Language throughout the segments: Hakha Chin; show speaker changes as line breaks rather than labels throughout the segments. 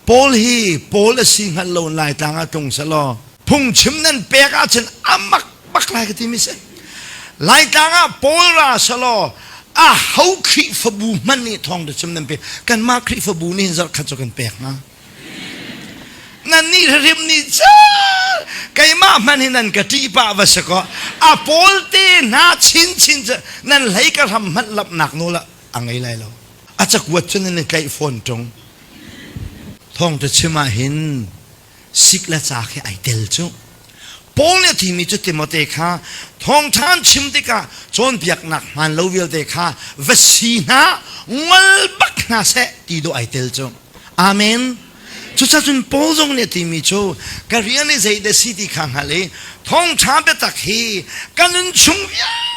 Paul hi Paul a si hngal lo Laitlang ah tlung selaw, phungchim nan pek ahcun a mak bak lai ka ti mi si. Laitlang ah Paul ra selaw, a ho Khrihfabu hmanh nih thawng biachim nan pek, kanmah Khrihfabu nih hin zarhkhat cu kan pek hnga. Nannih hrim nih cun keimah hmanh hi nan ka ṭih pah va si kaw, a Paul te hna chinchin cu nan hlei ka hram hmanh lamhnak nawl ah a ngei lai lo. A cakuat cu nan i tlaih fawn ṭung. Thawngṭa chim ahhin sik le ca khi ai tel cu. Paul nih a thimi cu Timote kha thawngṭha an chim tikah cawnpiaknak hmaan lo vialte kha va si hna, ngol bak hna seh ti dawh ai tel cu. Amen. Cucacun Paul zong nih a timi cu ka rian i zeidah si ti kha hngal i thawngṭha biatak hi ka nun chung vialte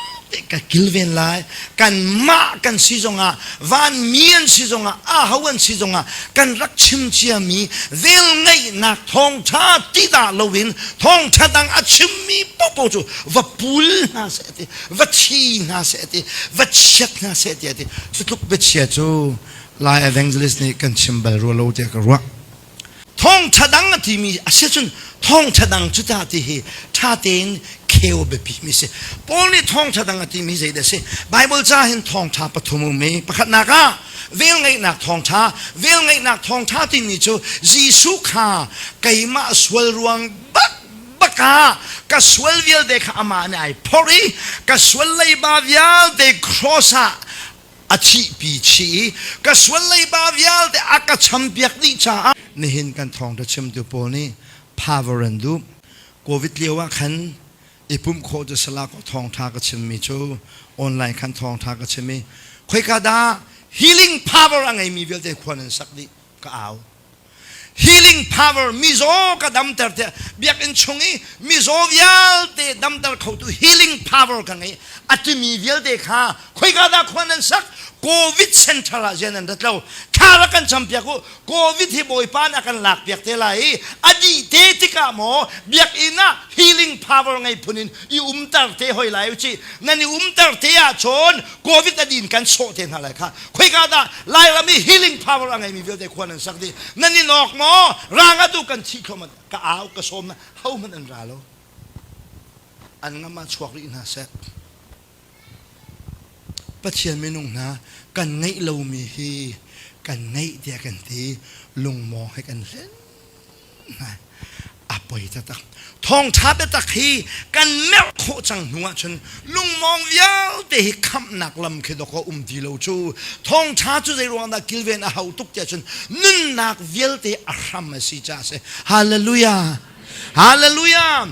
ka kilven lai kan mah kan si zongah van mi an si zongah aho an si zongah kan rak chim cia mi vel ngeihnak thawngtha ti da loin thawngtha dang a chimmi popo cu va pul hna se ti va thi hna se ti va chiat hna se ti ti cutluk bia chia cu lai evangelist nih kan chim bal rua lo tiah ka ruah Thawngṭha dang a timi a si cun thawngṭha dang cu ca ti hi ṭha tein kheu biapimi a si. Paul nih thawngṭha dang a timi zeidah a si? Baibal ca hin thawngṭha pathum um i pakhatnak ah velngeihnak thawngṭha, velngeihnak thawngṭha timi cu Jesuh kha keimah sual ruang bakbak ah ka sual vialte kha amah nih ai phorh i ka sual leiba vialte cross ah a thihpi chih i ka sualleiba vialte a ka champiak dih caah nihin kan thawngṭha chimtu pawl nih power an duh. Covid lio ah khan i pumh khawh cu Salako thawngṭha ka chimmi cu online khan thawngṭha ka chim i khoika dah healing power a ngeimi vialte khua nan sak dih ka au. Healing power mizaw ka damter tiah biakinn chung i mizaw vialte damter khotu healing power ka ngei a timi vialte kha khoika dah khua nan sak covid center ah zian an rat lo thla rak kan campiak u covid hi bawipa nih a kan lakpiak te lai i a dih te tikah maw biakinn ah healing power ngei phun in i umter te hoi lai u ci nan i umter te ahcun covid a din kan sawh te hna lai kha khoika dah lairam i healing power a ngeimi vialte khuan an sak dih nan in awk maw rang atu kan thi thluam ka au ka sawm na ho hmanh an ra lo an ngam ah chuak rih hna sek pathian minung hna kan ngeih lomi hi kan ngeih tiah kan ti lungmawng he kan hlen a poi tatak thawngtha tatak hi kan merh khawh cang hnu ah cun lungmong vialte hi khamhnak lam khi dok a um ti lo cu thawngtha cu zei ruang dah kilven a hau tuk tiah cun nunnak vialte a hram a si ca si hallelujah hallelujah